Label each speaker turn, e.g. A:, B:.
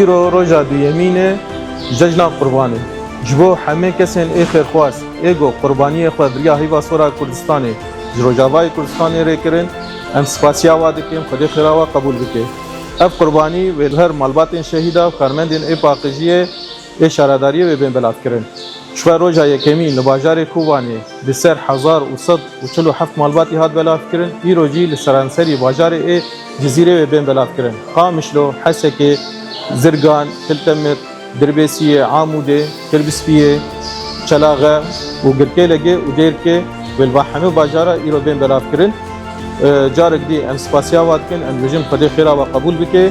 A: Îro roja duyemîn e cejna Qurbanê. Ji bo hemê kesên ê xêrxwaz ê ku qurbaniyê xwe biriya heyva sora Kurdistanê ji Rojavayê Kurdistanê rê kirin, em spasiya wan dikin Xwedê xêra wan qebûl bike. Ev qurbanî wê li her malbatên şehîda û karmendên ê paqijiyê, Ê şaredariyê wê bên belavkirin. Ji xwe roja yekemîn li bajarê Kobanê bi ser hezar û sed û çil û heft malbatî hat belavkirin, îro jî li seranserî bajarê ê Cizîrê wê bên belavkirin. Qamişlo, Hesekê, Zirgan, Tiltemir, Dirbêsiyê, Amûdê, Kirbispiyê, Çelaxe û Girkêlegê û Dêrkê wê li va hemû bajara îro bên belavkirin. Carek dî em spasiya wa dikin, em dibêjin Xwedê xêra wa qebûl bike.